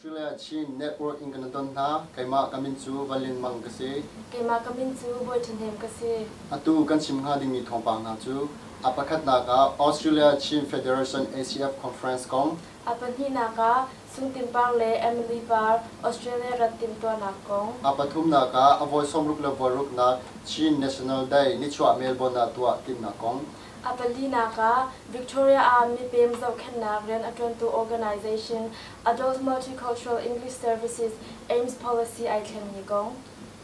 Australia Chin Network in kan don hna. Keimah ka min cu Valin Mang ka si. Keimah ka min cu Bawi Ṭhahnem ka si. Atu kan chim hnga dingmi thawngpang hna cu a pakhatnak ah Australia Chin Federation ACF Conference kong A pahnihnak ah, Sungtin par le Emily par Australia rat timhtuahnak kong. A pathumnak ah, a voi sawmruk le voi ruknak Chin National Day nichuah Melbourne ah tuah timhnak kong. A palinak ah, Victoria ah mipem zohkhenhnak rian a ṭuantu organization Adult Multicultural English Services, aims policy ai thlengmi kong.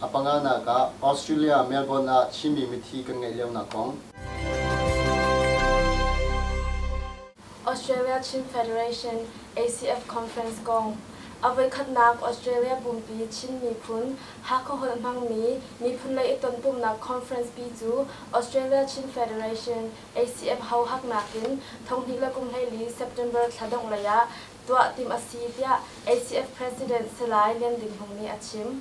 A panganak ah, Australia Melbourne ah Chinmi mithi kan ngeih lionak kong. Australia Chin Federation, ACF, conference kong a voikhatnak Australia pumpi Chin miphun Hakha holh hmangmi miphunlei i tonpumhnak conference pi cu Australia Chin Federation, ACF, hohak nakin thonghnih le kumhleili September thla dongh lei ah tuah timh a si, tiah ACF President Salai Lian Din Hmung nih a chim.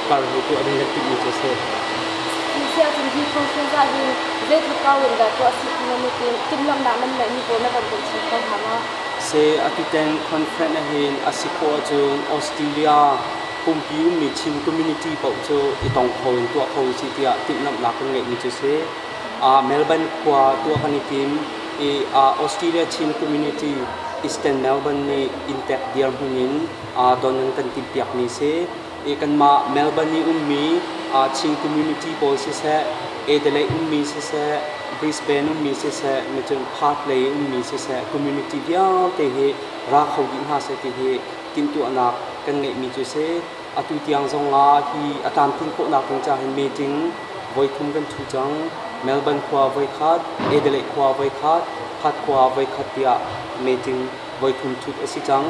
Parhnu tuahmi hi ṭih mi cu a si. Ti ahcun hi conference ah hin zeitluk kau in dah tuah a si ti nan i tim? Timhlamhnak nan ngeihmi pawl na van hmuh chin kho hnga ma? Seh a titen conference ahhin a si khawh ahcun Australia pumpi ummi Chin community paoh cu i tong kho in tuah kho usih tiah timhlamhnak kan ngeihmi cu si. Melbourne khua tuah kan i tim i Australia Chin community Eastern Melbourne nih inntek dirhmun in don an kan timhpiakmi si. kanmah Melbourne i ummi Chin community pawl siseh, Adelaide ummi siseh, Brisbane ummi siseh, Macun Perth lei ummi siseh community vialte hi ra kho dih hna seh ti hi timhtuahnak kan ngeihmi cu si. Atu tiang zong ah hi a tlamtlin khawhnak ding ca hin meeting voi thum kan thu cang. Melbourne khua voi khat, Adelaide khua voi khat, Perth khua voi khat tiah meeting voithum thut a si cang.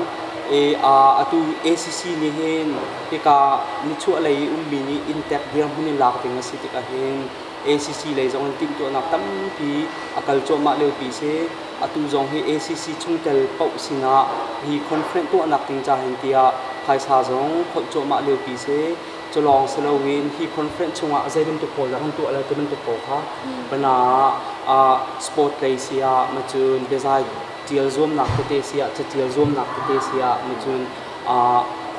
Atu ACC nih hin hika nichuahlei i ummi nih Intact dirhmun in lak ding a si tik ahhin ACC lei zong in timhtuahnak tampi a kal cuahmah lio pi si. Atu zong hi ACC chungtel paoh sinah hi conference tuahnak ding ca hin tiah phaisa zong phoih cuahmah lio pi si. Culawng si loin hi conference chungah zei bantuk pawl dah kan tuah lai ti bantuk pawl kha bana sport lei si ah macun biazai ṭial zuamnak tete si ah, caṭial zuamnak tete si ah nihcun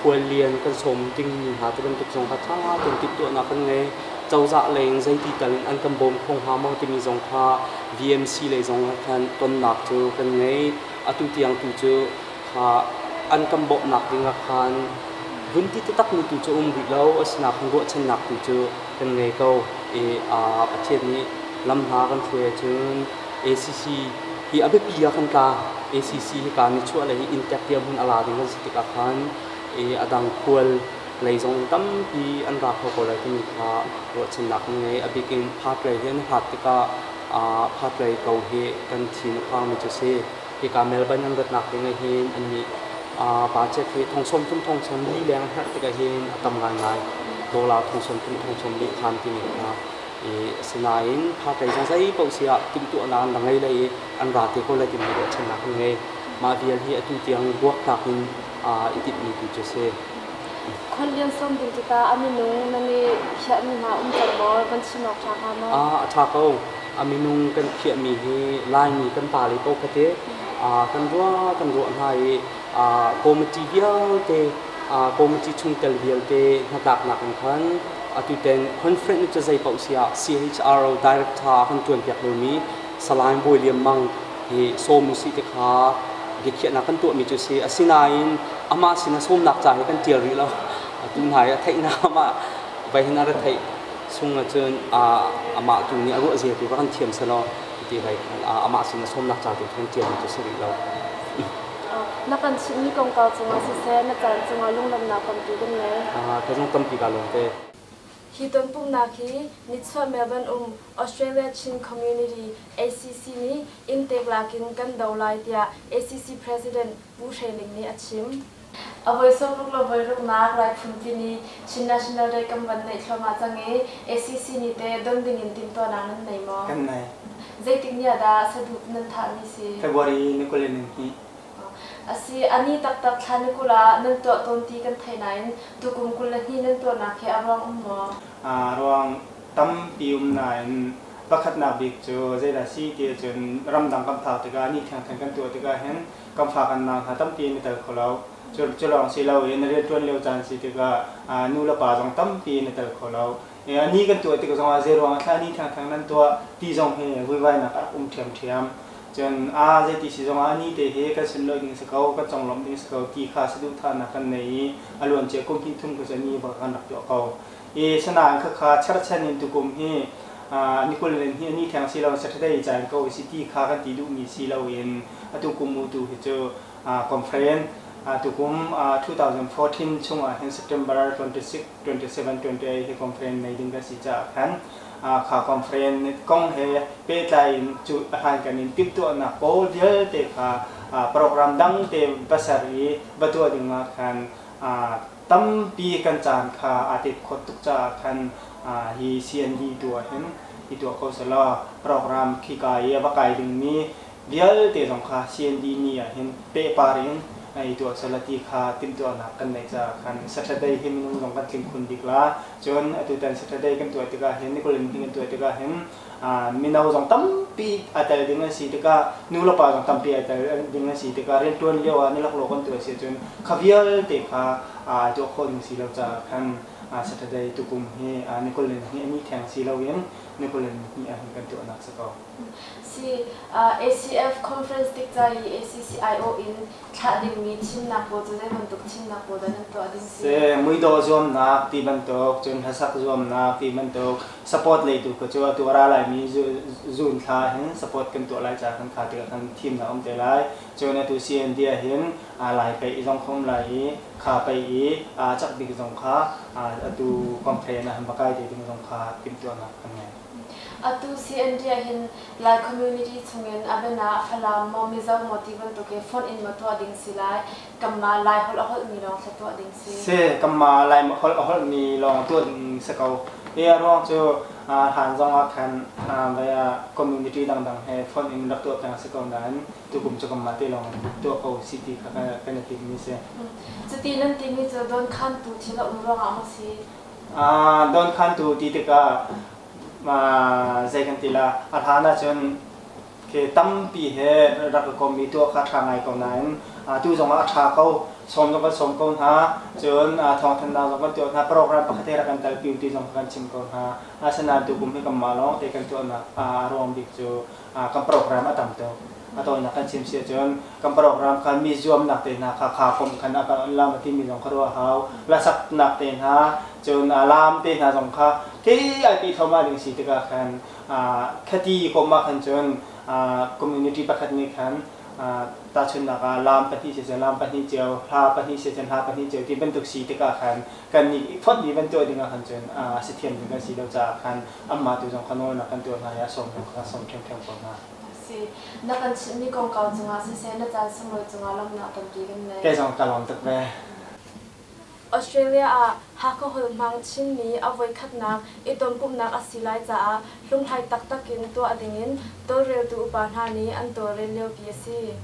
khual lian kan sawm dingmi hna ti bantuk zong kha ṭha tein timhtuahnak kan ngei. Cozah lei in zeiti tal in an kan bawm kho hnga maw timi zong kha VMC lei zong ah khan tonnak cu kan ngei. Atu tiang tu cu kha an kan bawmhnak ding ah khan vun ti taktakmi tu cu a um rih lo, asinain ruahchannak tu cu kan ngei ko i Pathian nih lam hna kan hruai ahcun ACC hi a biapi ah kan tla. ACC hika nichuahlei i inntek dirhmun a la ding an si tikah khan a dang khual lei zong tampi an ra kho ko lai timi kha ruahchannak na ngei. A bik in partlei hi an hlat tikah partlei ko hi kan thin a phangmi cu si. Hika Melbourne an ratnak ding ahhin annih budget hi thong sawm thum thong sawm li leng a herh tik ahhin a tam ngaingai. Dollar thong sawm thum thong sawm li khan timi kha Asinain hatlei zong zeipaoh si ah timhtuahnak an rak ngei lei i an ra te ko lai ti mi ruahchannak an ngei. Mah vial hi atu tiang buaktlak in aa i timhmi tu cu a si. Khuallian sawm ding tikah a minung nan i phiahmi hna umter law van chim awk ṭha hnga maw? A ṭha ko. A minung kan i phiahmi hi Laimi kan pa le paoh kha teh kan ruah kan ruah hna i committee vialte committee chungtel vialte hnatlaknak in khan atuten conference cu zei paoh si ah CHRO director kan tuanpiak lomi Salain Bawi Lian Mang hi sawm usih ti kha biakhiahnak kan tuahmi cu si asinain amah sinah sawmnak ca hi kan ṭial rih lo atu hna i a theihnaam ah vai hin a retheih chung ahcun amah tu nih a ruah zia tu va kan thiam selaw ti vai amah sinah sawmnak ca tu kan ṭial mi cu si rih lo Na kan chimhmi kongkau cungah siseh, na caan cungah lunglawmhnak tampi kan ngei. Ka zung tampi kaa lawmte. Hi tonpumhnak hi nichuah Melbourne um Australia Chin Community, ACC, nih inntek lak in kan do lai tiah ACC President Pu Hre Ling nih a chim. A voi sung ruk le voi ruknak raithawn timi Chin National Day kan van naih thluahmah cang i ACC nih teh don dingin timhtuahnak nan nei maw? Kan ngei. Zeitik ni ah dah saduh nan thahmi si? February ni kul le nihnih. Asi, a ni taktak thla ni kul ah nan tuah tawn ti kan theih nain tukum kul le hnih nan tuahnak hi a ruang um maw? A ruang tampi um nain pakhatnak bik cu zeidah a si ti ahcun ramdang kan phak tikah ni thengtheng kan tuah tikah hin kan fa kan nang hna tampi in i tel kho lo. Culawng si lo in rianṭuan lio caan si tikah nulepa zong tampi in a tel kho lo. Ni kan tuah tik zongah zeiruang ah thlah ni thangthang nan tuah ti zong hi vuivainak a rak um ṭhiamṭhiam. Cun aa zei ti si zongah ni te hi kan sunlawih ding a si ko, kan conglawmh ding a si ko ti kha saduhthahnak kan ngei i a luancia kum hnih thum kha cu ni bak kan rak tuah ko. I sinain khakha cherhchan in tukum hi ni kul len hi a ni theng si lo in saṭhadei ca in ko a si ti kha kan ti duhmi si lo in atu kum mu tu hi cu conference tukum 2014 chung ahhin September 27, 28 hi conference nei ding ka si caah khan kha conference kong he pehtlai in cu hlankan in timhtuahnak pawl vialte kha program dangte va ser i va tuah dingah khan tampi kan caan kha aa tet khot tuk caah khan hi CND tu ahhin i tuah ko selaw program khika i a va kai dingmi vialte zong kha CND ni ah hin pehpar in i tuahsal a ti kha timhtuahnak kan neih caah khan Saturday hi minung zong kan tling khun bik la. Cun atutan Saturday kan tuah tikah hin Nikulh ni kan tuah tikah hin mino zong tampi a tel ding an si tikah nu le pa zong tampi a tel ding an si tikah riantuan lio ah ni laklawh kan tuah si cun kha vialte kha tuah khawh ding si lo caah khan Saturday tukum hi Nikulh ni hi ni theng si loin Nikulh ni ah hin kan tuahnak si ko. ACF conference tik ca i ACCIO in thlah dingmi thimnak pawl cu zei bantuk thimnak pawl dah nan tuah ding si? Se, muidawh zuamnak ti bantuk, cun hlasak zuamnak ti bantuk, support lei tu kha cu atu a ra laimi zun thla hin support kan tuah lai ca kan kha tikah khan thimnak um te lai. Cun atu CND ah hin lai pei zong khom lai i kha pei i cak bik zong kha atu complain ah han va kai te ding zong kha timhtuahnak kan ngei. Atu CND ahhin Lai community chungin a biana ah Falam maw Mizo maw ti bantuk i fonh in maw tuah ding si lai. Kanmah Lai holh a holhmi lawng thla tuah ding si. Si, kanmah Lai holh a holhmi lawng tuah ding si ko. Hi a ruang cu hlan zongah khan vei ah community dangdang he fonh in rak tuah peng a si ko nain tukum cu kanmah te lawng in tuah ko si ti kha kan i timhmi si. Cuti nan timi cu dawnkhantu thil a um ruangah maw si? dawnkhantu ti tikah zei kan ti la a hlan ahcun khi tampi he rak ka kommi tuah kha ṭha ngai ko nain tu zongah a ṭha ko sawm zong kan sawm ko hna cun thawngthanhnak zong kan tuah hna program pakhat he rak kan talpi ti zong kan chim ko hna asinain tu kum hi kanmah lawng te kan tuahnak a ruang bik cu kan program a tam tuk. A tawinak kan chim si ahcun kan program kha mi zuamnak te hna kha kha kum khan a kan lam a timi zong kha ruah a hau. Hlasaknak te hna, cun laam te hna zong kha kei ai pe thluahmah ding si tikah khan khaty kum ah khan cun community pakhat nih khan tahchunnak ah laam pahnih si cun laam pahnih cio hla pahnih si cun hla pahnih cio ti bantuk si tikah khan kan nih fonh mi van tuah ding ah khan cun a si thiam ding kan si lo caah khan amah te zong kha nawlnak kan tuah hna i a sawmnak kha kan sawm ṭhiamṭhiam ko hna. A si. Na kan chimhmi kongkau cungah siseh, na caan sunglawi cungah lawmhnak tampi kan ngei. Kei zong ka lawm tuk ve. Australia ah Hakha holhmang Chinmi a voikhatnak i tonpumhnak a si lai caah hlunghlai taktak in tuah dingin tawlreltu upa hna nih an tawlrel liopi a si.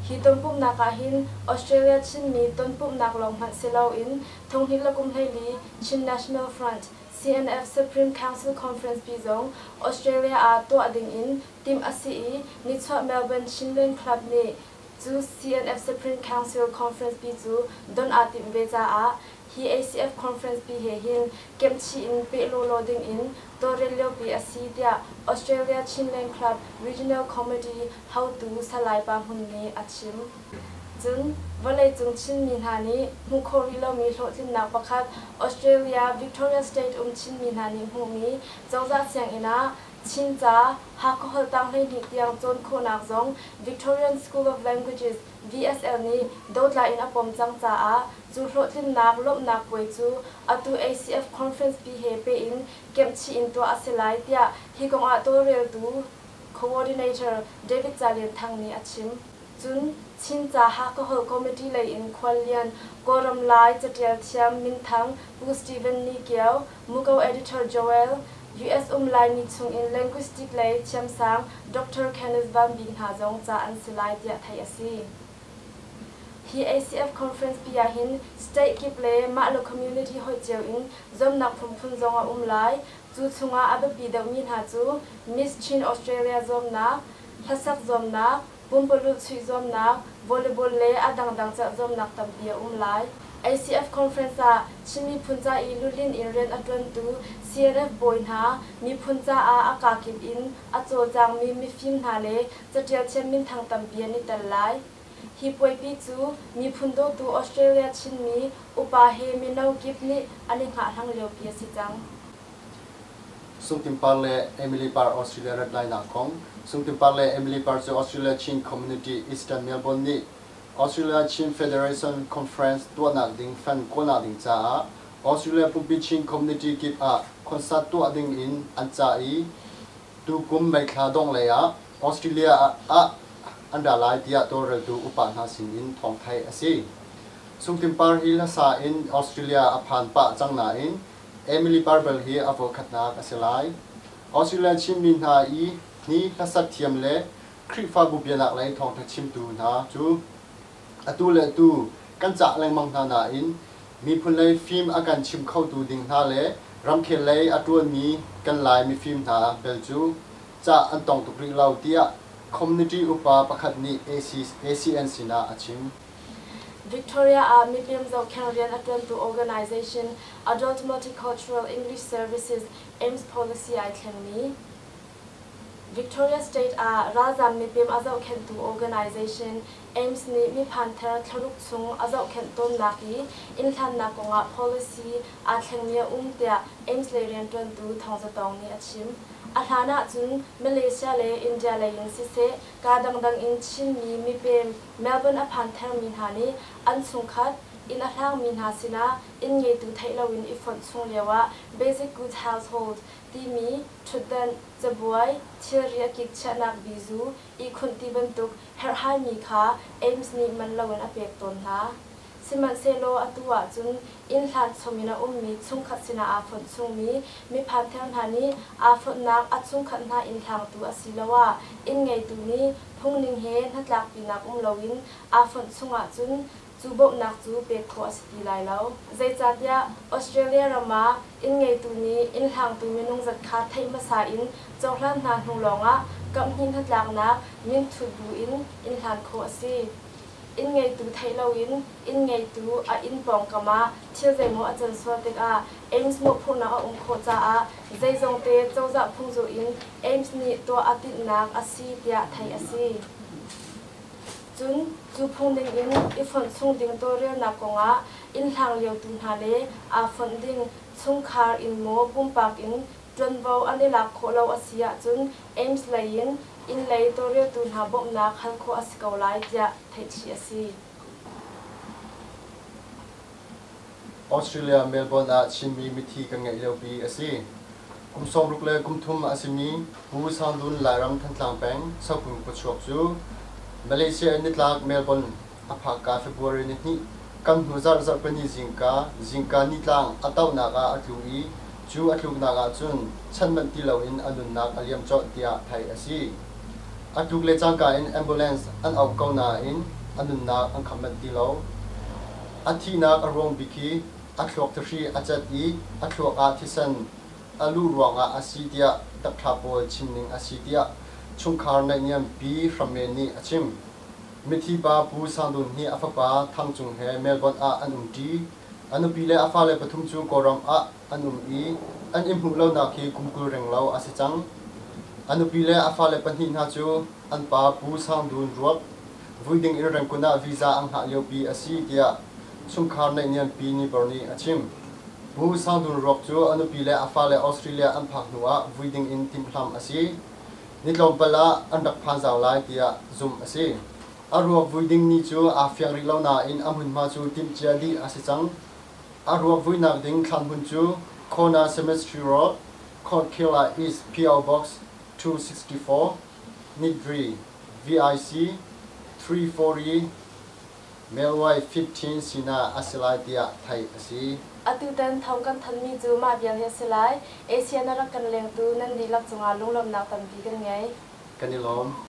Hi tonpumhnak ahhin Australia Chinmi tonpumhnak lawng hmanh si loin Thonghnih le Kum Hleili Chin National Front, CNF Supreme Council Conference-pi zong Australia ah tuah ding in timh a si i nichuah Melbourne Shinland Club nih cu CNF Supreme Council Conference-pi cu don aa timh ve caah hi ACF Conference-pi he hin kemhchih in peh lawlaw ding in tawlrel liopi a si tiah Australia Chinland Club Regional Committee hotu Salai Pa Hmun nih a chim. Cun vawleicung Chinmi hna nih hmuh khawh rih lomi hlawhtlinnak pakhat Australia Victoria State um Chinmi hna nih hmuhmi cozah sianginn ah Chinca Hakha Holhtang Hleihnih tiang cawn khawhnak zong Victorian School of Languages, VSL, nih dotla in a pom cang caah cu hlawhtlinnak lawmhnak puai cu atu ACF Conference pi he peh in kemhchih in tuah a si lai tiah hi kong ah tawlreltu, coordinator, David Ca Lian Thang nih a chim. Cun Chin ca Hakahol Committee lei in khuallian, Kawlram Lai catial thiam minthang Pu Steven Ni Kio, Muko editor Joel, US um Laimi chung in linguistic lei thiamsang Doctor Kenneth Van Bik hna zong ca an si lai tiah theih a si. Hi ACF conference pi ah hin state kip le mah le community hoih cio in zomnak phunphun zong a um lai. Cu chung ah a biapi deuhmi hna cu Miss Chin Australia zawmnak, hlasak zawmnak, Pumpalulh chuih zuamnak, volleyball le a dangdang cerh zuamnak tampi a um lai. ACF conference ah Chin miphun ca i luhlin in rian a ṭuantu CNF bawi hna, miphun caah a kakip in a cawlcangmi mifim hna le caṭial thiam minthang tampi an i tel lai. Hi puaipi cu miphun dawtu Australia Chinmi upa he mino kip nih an i hngahhlang liopi a si cang. Sungtin Par le Emily Par Australia rat lainak kong Sungtin Par le Emily Par cu Australia Chin Community Eastern Melbourne nih Australia Chin Federation Conference tuahnak ding fan kuahnak ding caah Australia Pumpi Chin Community kip ah concert tuah ding in an cah i tukum meithla dongh lei ah Australia ah an ra lai tiah tawlreltu upa hna sin in thawng theih a si. Sungtin Par hi hlasa in Australia a phan pah cang nain Emily Barbel hi a voikhatnak a si lai. Australia Chinmi hna i ni hlasat thiam le Khrihfabu bianaklei thawngṭha chimtu hna cu atu le atu kan cah lengmang hna nain miphun lei fim a kan chimh khotu ding hna le ramkhel lei a ṭuanmi kan Lai mifim hna bel cu cah an tong tuk rih lo, tiah community upa pakhat nih AC, ACN sinah a chim. Victoria ah mipem zohkheng rian a ṭuantu organization Adult Multicultural English Services, AIMS, policy ai thlengmi Victoria State ah ralzam mipem a zohkhenhtu organization AIMS nih miphan thar thlaruk chung a zohkhenh tawnnak i innhlannak kongah policy aa thlengmi a um tiah AIMS lei rianṭuantu Thawng Za Tawng nih a chim. A hlan ahcun Malaysia le India lei in siseh, kaa dangdang in Chinmi mipem, Melbourne a phan thermi hna nih an chungkhat, inn a hlangmi hna sinah inn ngeitu theih loin i fonh chung lioah Basic Goods Household timi ṭhutdanh, cabuai, thilri a kik chiahnak bizu, ihkhunh ti bantuk herhhaimi kha Ames nih man loin a pek tawn hna. Sihmanhsehlaw atu ah cun innhlan chom in a ummi chungkhat sinah aa fonh chungmi miphantheu hna nih aa fonhnak a chungkhat hna innhlangtu asiloah inn-ngeitu nih phungning he hnatlakpinak um loin aa fonh chung ahcun cu bawmhnak cu pek khawh a si ti lai lo. Zeicahtiah Australia ram ah inn-ngeitu nih innhlangtu minung zat kha theih hmasa in cohlan hna hnu lawngah kamhnih hnatlaknak minthut bu in innhlan khawh a si. Inn ngeitu theih loin inn ngeitu a inn pawngkam ah thil zeimaw a can sual tikah Aims mawhphurhnak a um khawh caah zeizongte cozah phungzur in Aims nih tuah a tinhnak a si tiah theih a si. Cun cu phung dingin i fonh chung ding tawlrelnak kongah inn hlangliotu hna le aa fonh ding chungkhar inn maw pumpak inn ṭuanvo an i lak khawh lo a si ahcun Aims lei in innlei tawlreltu hna bawmhnak hal khawh a si ko lai tiah theih chih a si. Australia Melbourne ah Chinmi mithi kan ngeih liopi a si. Kum sawmruk le kum thum a simi Pu Sangdun Lairam Thantlang peng Sokung khuachuak cu Malaysia in nitlak Melbourne, a phakka February ni hnih kan hnu zarh zarhpini zingka, zingka nitlang, a tohnak ah a tlu i cu a tluknak ahcun chan manh ti loin a nunnak a liam colh tiah theih a si. A tluk le cangka in ambulance an auh ko nain a nunnak an kham manh ti lo. A thihnak a ruang bik hi a thluak thihri a cat i a thluak ah thisen a luh ruangah a si tiah doctor pawl chimning a si tiah chungkhar naihniampi hram men nih a chim. Mithi pa Pu Sang Dun hi a fapa Thang Cung he Melbourne ah an um ṭi. A nupi le a fale pathum cu Kawlram ah an um i an i hmuh lonak hi kum kul reng lo a si cang. A nupi le a fale pahnih hna cu an pa Pu Sang Dun ruak vui ding in Rangoon ah visa an hngah liopi a si tiah chungkhar neihniampi Niebuhr nih a chim. Pu Sang Dun ruak cu a nupi le a fale Australia an phak hnu ah vui ding in timhlamh a si. ni tlawmpal ah an rak phazau lai tiah zumh a si. A ruak vui ding ni cu aa fiang rih lo nain a hmunhma cu timhcia dih a si cang. A ruak vuinak ding thlanhmun cu Kona Cemetery Road, Court Khirla East, PO Box two sixty four, Nidri, VIC, three four i, Melwai Fit Chin sinah a si lai tiah theih a si. Atutan thawng kan thanmi cu mah vial hi a si lai. Asia na rak kan lengtu nan dihlak cungah lunglawmhnak tampi kan ngei. Kan i lawm.